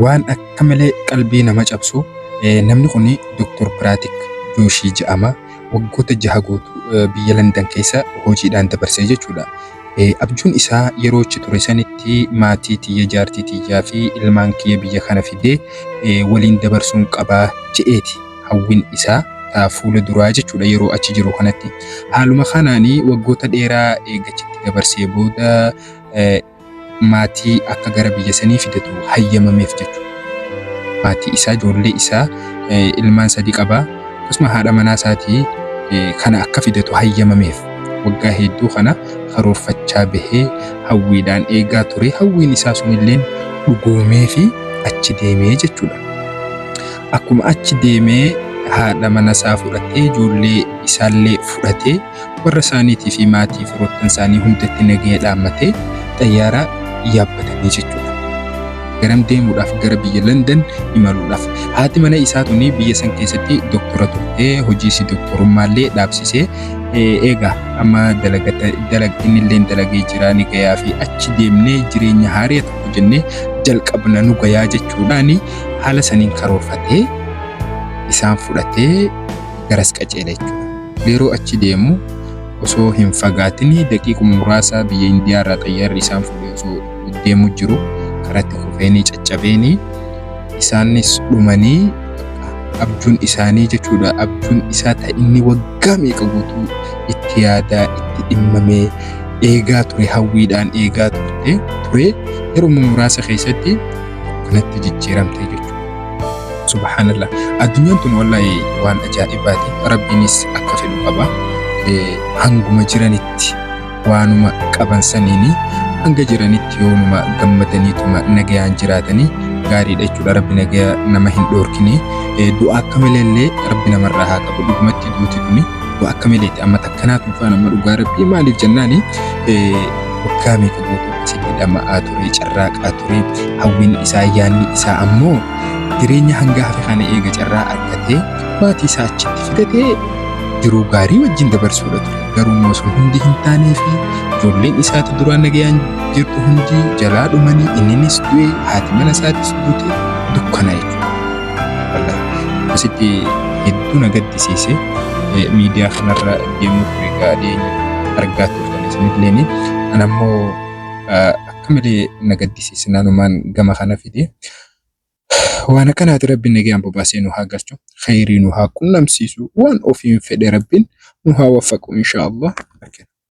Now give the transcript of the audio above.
Waan akka malee qalbii nama cabsu, namni kun Doktor Piraatik Jooshii jedhama. Waggoota jaha guutuu biyya Landan keessa hojiidhaan dabarsee jechuudha. Abjuun isaa yeroo achi ture sanitti maatii tiyya, jaartii tiyyaa fi ilmaan kiyya biyya kana fidee waliin dabarsuun qaba jedheeti hawwiin isaa taa fuula duraa jechuudha yeroo achi jiru kanatti. Haaluma kanaan waggoota dheeraa eega achitti dabarsee booda maatii akka gara biyya sanii fidatu hayyamameef jechuudha. Maatii isaa, ijoollee isaa, ilmaan sadii qaba. Akkasuma haadha manaa isaatii kana akka fidatu hayyamameef waggaa hedduu kana karoorfachaa bahee hawwiidhaan eegaa ture. Hawwiin isaa sunilleen dhugoomee fi achi deemee jechuudha. Akkuma achi deemee haadha mana isaa fudhatee ijoollee isaallee fudhatee warra isaaniitii fi maatii firoottan isaanii hundatti nagaya dhaammatee xayyaaraa yaabbatanii jechuudha. Garam deemuudhaaf gara biyya London imaluudhaaf. Haati mana isaa tuni biyya san keessatti doktora turte hojiisi doktorummaallee dhaabsisee eegaa amma dalagdinillee dalagee jira ni gayaa fi achi deemnee jireenya haaree tokko jennee jalqabna nu gayaa jechuudhaan haala saniin karoorfatee isaan fudhatee garas qaceela jechuudha. Yeroo achi deemu osoo hin fagaatin daqiiquma muraasaa biyya Indiyaa irraa xayyaarri isaan fuudhee osoo deemu jiru karatti kufeenii caccabeenii isaanis dhumanii abjuun isaanii jechuudha. Abjuun isaa ta inni waggaa meeqa guutuu itti yaadaa itti dhimmamee eegaa ture hawwiidhaan eegaa turte ture yeruma muraasa keessatti kanatti jijjiiramte jechuudha. Subhaanallah. Addunyaan tun wallahi waan ajaa'ibaati. Rabbiinis akka fedhu qaba. Eh, Hanguma jiranitti waanuma qaban saniini hanga jiranitti yoonuma gammadaniituma nagayaan jiraatanii gaariidha jechuudha. Rabbi nagaya nama hin dhoorkine. Eh, Du'a akka malee illee Rabbi namarraa haa qabu. Dhugumatti duuti tuni du'a akka maleeti. Amma takkanaatu faana amma dhugaa Rabbii maaliif jennaani eh, waggaa meeqa guutuu jedhee dhama'aa ture carraaqaa ture hawwiin isaa yaanni isaa ammoo jireenya hanga hafe kana eega carraa argatee maatii isaa achitti fidatee jiruu gaarii wajjin dabarsuudha ture garuu immoo sun hundi hin taanee fi ijoolleen isaatu duraan nagayaan jirtu hundi jalaa dhumanii inninis du'e haati mana isaatis duute dukkana jechuudha. Asitti hedduu na gaddisiise miidiyaa kanarra deemuu ture gaadhee argaa ture. Sanilleen an ammoo akka malee na gaddisiise nanumaan gama kana fide. Waan akkanaati rabbiin nagaan bobaasee nu haa galchu. Khayrii nu haa qunnamsiisu. Waan ofiin fedhe rabbiin nu haa waffaqu inshaa Allah.